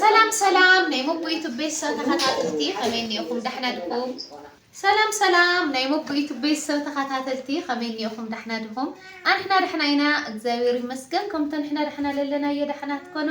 ሰላም ሰላም ናይ ሞቦ ዩቱብ ቤተሰብ ተኸታተልቲ ከመይ እኒኦኹም ዳሕና ድኹም ሰላም ሰላም ናይ ሞቦ ዩቱብ ቤተሰብ ተኸታተልቲ ከመይ እኒኦኹም ዳሕና ድኹም ኣንሕና ዳሕና ኢና እግዚኣብሔር ይመስገን ከምቶ ንሕና ዳሕና ለለናዮ ዳሕና ትኮኑ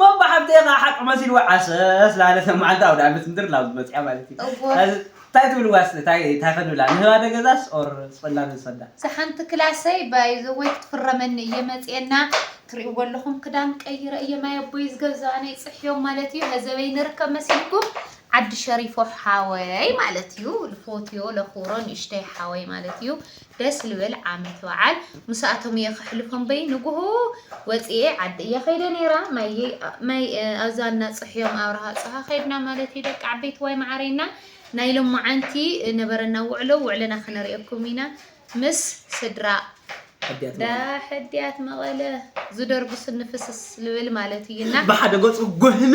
ሞባ ሓብተይ ከኣ ሓቂ መሲልዋ ዓሰስ በሃለት ኣብ መዓልቲ ኣውደኣመት ምድር ናብ ዝመጽኣ ማለት እዩ እወ ሕዚ ታይ ትብልዋ እስቲ ታይ ታይ ክንብላ ንህባ ደገዛስ ኦር ስቅልና ንውሰዳ። እዛ ሓንቲ ክላሰይ ባይ ዘ ዌይ ክትፍረመኒ እየ መጽየ እና ትሪእዎ ኣለኹም ክዳን ቀይረ እየ ማይ ኣቦይ ዝገዘኣ ናይ ጽሕዮም ማለት እዩ ነዘበይ ንርከብ መሲልኩም ዓዲ ሸሪፎ ሓወይ ማለት እዩ ልፎትዮ ለኹብሮ ንእሽተይ ሓወይ ማለት እዩ ደስ ልብል ዓመት ባዓል ምሳኣቶም እየ ከሕልፎ እምበይ ንጉሆ ወፂኤ ዓዲ እየ ከይደ ነይረ ማይ ኣብዛ እና ፅሕዮም ኣብርሃ ፅሃ ከይድና ማለት እዩ ደቂ ዓበይቲ ዋይ ማዓረይ እና ናይ ሎማዓንቲ ነበረና ውዕሎ ውዕለና ክነሪኦኩም ኢና ምስ ስድራ ዳሕድያት መቐለ ዝደርጉ ስኒ ፍስስ ልብል ማለት እዩ እና ብሓደ ገፁ ጎህመ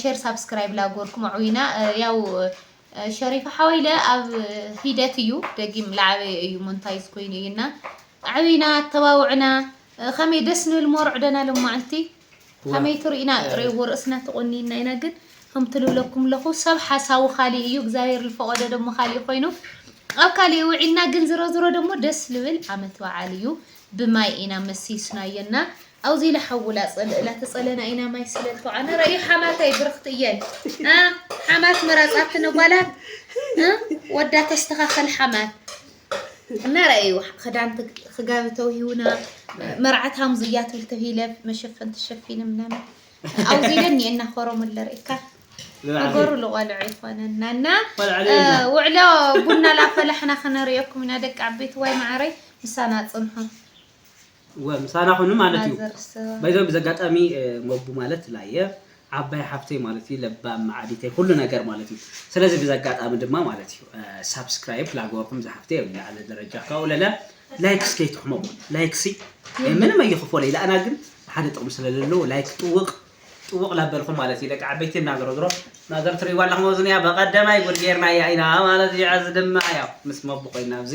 ሼር ሳብስክራይብ ላጎርኩም ኣዕዊና ያው ሸሪፋ ሓወይለ ኣብ ሂደት እዩ ደጊም ላዓበየ እዩ ሞንታይዝ ኮይኑ እዩ እና ኣዕዊና ኣተባውዕና ከመይ ደስ ንብል ሞርዕደና ልማዓንቲ ከመይ ትርኢና ሬዎ ርእስና ተቆኒና ኢና ግን ከምቲ ልብለኩም ኣለኹ ሰብ ሓሳቡ ካሊእ እዩ እግዚኣብሔር ልፈቀዶ ደሞ ካሊእ ኮይኑ ኣብ ካሊእ ውዒልና ግን ዝሮ ዝሮ ደሞ ደስ ልብል ዓመት በዓል እዩ ብማይ ኢና መሲስናዮ እና ኣውዚ ኢላ ሓውላ ጸልእላ ተጸለና ኢና ማይ ስለል ተውዓና ረእዩ ሓማተይ ብርኽቲ እየን ሓማት መራጽ ኣብቲ ነጓላት ወዳ ተስተኻኸል ሓማት እና ረእዩ ክዳን ክጋቢ ተውሂውና መርዓት ሃምዙ እያ ትብል ተሂለ መሸፈን ተሸፊነ ምናምን ኣውዚ ኢለን እየን እናኸረሙለ ርእካ ነገሩ ልቆልዑ ይኮነና እና ውዕሎ ቡና ላፈላሕና ክነርእየኩም ኢና ደቂ ዓበይቲ ዋይ ማዓረይ ምሳና ጽንሑ እወ ምሳና ኩኑ ማለት እዩ ማዘር ስባ ባይዘ ብዚ ኣጋጣሚ ሞቡ ማለት ላየ ዓባይ ሓፍተይ ማለት እዩ ለባም መዓዲተይ ኩሉ ነገር ማለት እዩ ስለዚ ብዚ ኣጋጣሚ ድማ ማለት እዩ ሳብስክራይብ ላግበርኩም ዝሓፍተይ ኣብ ዝለዓለ ደረጃ ካብኡ ለለ ላይክስ ከይትሕመቁ ላይክሲ ምንም ኣይኽፎለይ ለኣና ግን ሓደ ጥቕሚ ስለለለዎ ላይክ ጥውቕ ጥውቕ ላበልኩም ማለት እዩ ደቂ ዓበይቲ እና ዝሮ ዝሮ ማዘር ትሪእዋ ኣለኹም ኣብዚ እኒኣ በቐደማይ ጉድ ጌርናያ ኢና ማለት እዩ ሕዚ ድማ ያው ምስ ሞቡ ኮይና ኣብዚ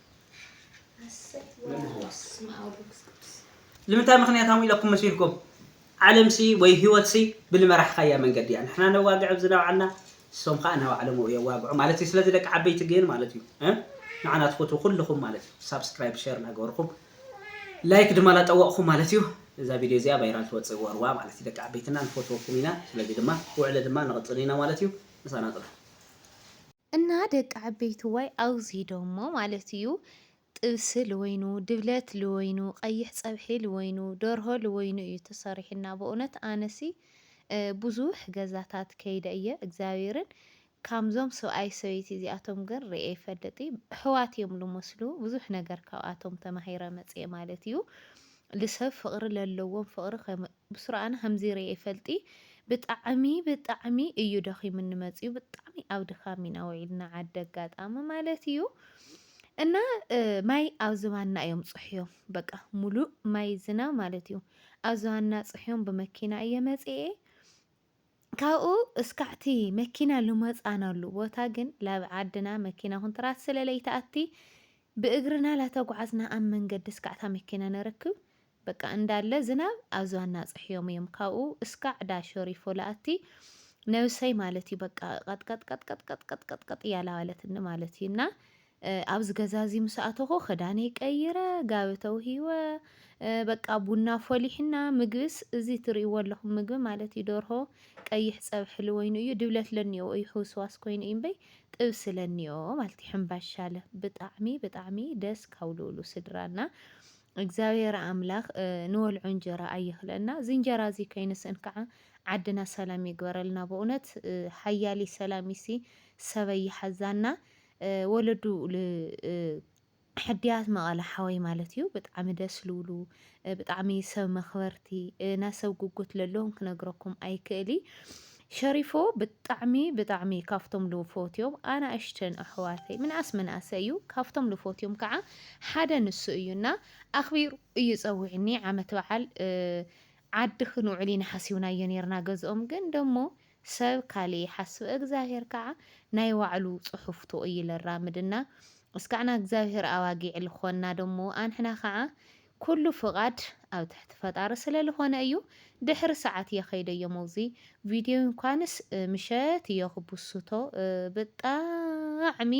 ልምንታይ ምኽንያታዊ ኢለኩም መስልኩም? ዓለምሲ ወይ ህይወትሲ ብልመራሕኻያ መንገዲ እያ። ንሕና ነዋግዕ ኣብዚ ናባዕልና ንሶም ኸኣ ናባዕሎም ኣብኡ የዋግዑ ማለት እዩ። ስለዚ ደቂ ዓበይቲ ግን ማለት እዩ እ ንዓና ትፈትዉ ኩልኹም ማለት እዩ ሳብስክራይብ ሸር ናገበርኩም ላይክ ድማ ላጠወቕኹም ማለት እዩ እዛ ቪድዮ እዚኣ ቫይራል ትወፅእ ወርዋ ማለት እዩ። ደቂ ዓበይትና ንፈትወኩም ኢና። ስለዚ ድማ ውዕለ ድማ ንቕፅል ኢና ማለት እዩ። ምሳና ፅንሑ። እና ደቂ ዓበይትዋይ ኣውዙይ ዶሞ ማለት እዩ ጥብሲ ልወይኑ ድብለት ልወይኑ ቀይሕ ፀብሒ ልወይኑ ደርሆ ልወይኑ እዩ ተሰሪሑና በእውነት ኣነሲ ብዙሕ ገዛታት ከይደ እየ እግዚኣብሔርን ካምዞም ሰብኣይ ሰበይቲ እዚኣቶም ግን ርኤ ይፈልጥ እሕዋት እዮም ልመስሉ ብዙሕ ነገር ካብኣቶም ተማሂረ መፅኤ ማለት እዩ ልሰብ ፍቅሪ ለለዎም ፍቅሪ ብስሩ ኣነ ከምዚ ሪኤ ይፈልጢ ብጣዕሚ ብጣዕሚ እዩ ደኺሙኒ መጺኡ ብጣዕሚ ኣብ ድኻም ኢና ውዒልና ዓዲ ኣጋጣሚ ማለት እዩ እና ማይ ኣብ ዝባና እዮም ጽሕዮም በቃ ሙሉእ ማይ ዝና ማለት እዩ ኣብ ዝባና ጽሕዮም ብመኪና እየ መጺኤ ካብኡ እስካዕቲ መኪና ልመፃናሉ ቦታ ግን ላብ ዓድና መኪና ኩንትራት ስለ ለይትኣቲ ብእግርና ላተጉዓዝና ኣብ መንገዲ እስካዕታ መኪና ነረክብ በቃ እንዳለ ዝናብ ኣብ ዝባና ፅሕዮም እዮም ካብኡ እስካዕ ዳሸሪፎ ልኣቲ ነብሰይ ማለት እዩ በቃ ቀጥቀጥቀጥቀጥቀጥቀጥቀጥ እያላዋለትኒ ማለት እዩ እና ኣብዚ ገዛ እዚ ምስ ኣተኹ ክዳነይ ቀይረ፣ ጋቢ ተውሂወ፣ በቃ ቡና ኣፎሊሕና፣ ምግብስ እዚ እትርእይዎ ኣለኹም ምግቢ ማለት እዩ ደርሆ ቀይሕ ጸብሒ ልወይኑ እዩ፣ ድብለት ለኒኦ እዩ ሕውስዋስ ኮይኑ እዩ እምበይ ጥብሲ ለኒኦ ማለት እዩ ሕምባሻለ ብጣዕሚ ብጣዕሚ ደስ ካብ ልብሉ ስድራና እግዚኣብሔር ኣምላኽ ንወልዖ እንጀራ ኣይኽለና። እዚ እንጀራ እዚ ከይንስእን ከዓ ዓድና ሰላም ይግበረልና። በእውነት ሓያሊ ሰላም ይሲ ሰበይ ይሓዛና። ወለዱ ል ሕድያት መቐለ ሓወይ ማለት እዩ ብጣዕሚ ደስ ልብሉ ብጣዕሚ ሰብ መኽበርቲ ናይ ሰብ ጉጉት ለለዎም ክነግረኩም ኣይክእሊ ሸሪፎ ብጣዕሚ ብጣዕሚ ካብቶም ልፎትዮም ኣናእሽተን ኣሕዋተይ ምንኣስ ምንኣሰ እዩ ካብቶም ልፎትዮም ከዓ ሓደ ንሱ እዩና ኣኽቢሩ እዩ ፀዊዕኒ ዓመት በዓል ዓዲ ክንውዕል ኢና ሓሲብናዮ ነርና ገዝኦም ግን ደሞ ሰብ ካልእ ይሓስብ እግዝኣብሄር ካኣ ናይ ዋዕሉ ጽሑፍቶ እዩ ለራምድና እስካዕና እግዝኣብሄር ኣዋጊዕ ልኾና ደሞ ኣንሕና ካኣ ኩሉ ፍቃድ ኣብ ትሕቲ ፈጣሪ ስለ ልኾነ እዩ ድሕሪ ሳዓት እየ ከይደ እዮ መውዚ ቪድዮ እንኳንስ ምሸት እዮ ክቡሱቶ ብጣዕሚ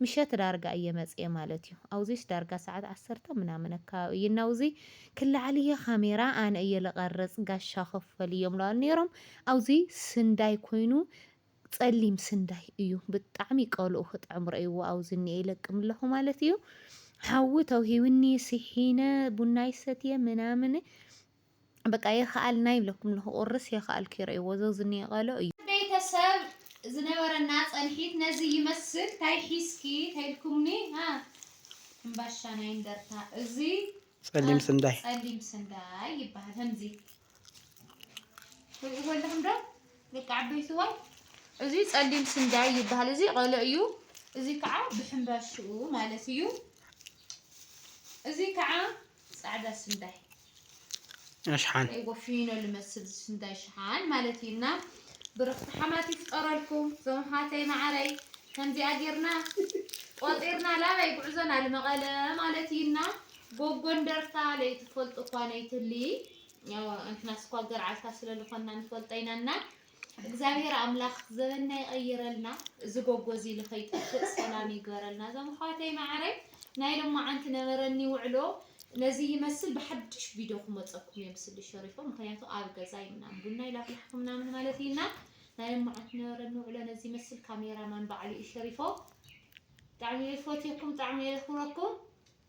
ምሸት ዳርጋ እየ መጽየ ማለት እዩ ኣውዚስ ዳርጋ ሳዓት ዓሰርተ ምናምን ኣካባቢ እዩ እና ውዚ ክላዓል እየ ካሜራ ኣነ እየ ልቀርጽ ጋሻ ክፈል እዮም ለዋል ነሮም ኣውዚ ስንዳይ ኮይኑ ጸሊም ስንዳይ እዩ ብጣዕሚ ቀልኡ ክጥዕም ረእይዎ ኣውዚ እኒኤ ይለቅም ኣለኹ ማለት እዩ ሓዊ ተውሂብኒ ሲሒነ ቡናይ ሰትየ ምናምን በቃ የኸኣልና ይብለኩም ኣለኹ ቁርስ የኸኣልኩ ይረእይዎ ዘውዚ እኒኤ ቀልኦ እዩ ቤተሰብ ዝነበረና ጸንሒት ነዚ ይመስል ታይ ሒዝኪ ተይልኩምኒ ሃ ሕምባሻ ናይ እንደርታ እዚ ጸሊም ስንዳይ ጸሊም ስንዳይ ይበሃል ህምዚ ትሪእዎለኹም ዶ ደቂ ዓበይ ስዋይ እዚ ጸሊም ስንዳይ ይበሃል እዚ ቆሎ እዩ እዚ ከዓ ብሕምባሽኡ ማለት እዩ እዚ ከዓ ጻዕዳ ስንዳይ ኣሽሓን ወፊኖ ልመስል ስንዳይ ሽሓን ማለት እዩ እና ብርኽቲ ሓማት ይፍጠረልኩም ዞም ሓተይ ማዓረይ ከምዚኣ ጌርና ቆጢርና ላበይ ጉዕዞና ልመቐለ ማለት እዩ እና ጎጎንደርታ ለይትፈልጡ እኳ ነይትሊ እንሕናስ እኳ ገርዓልታ ስለልኾንና ንፈልጦ ኢና እና እግዚኣብሔር ኣምላኽ ዘበንና ይቐይረልና እዚ ጎጎ እዚ ልኸይጠፍእ ሰላም ይግበረልና እዞም ኣሕዋተይ መዓረይ ናይ ሎማዓንቲ ነበረኒ ውዕሎ ነዚ ይመስል ብሓድሽ ቪድዮ ክመፀኩም እየ ምስሊ ሸሪፎ ምክንያቱ ኣብ ገዛ ይምናም ቡና ይላፍላሕኹ ምናምን ማለት እዩ እና ናይ ሎማዓንቲ ነበረኒ ውዕሎ ነዚ ይመስል ካሜራማን በዓሉ እዩ ሸሪፎ ብጣዕሚ እየ ዝፈትየኩም ብጣዕሚ እየ ዘኽብረኩም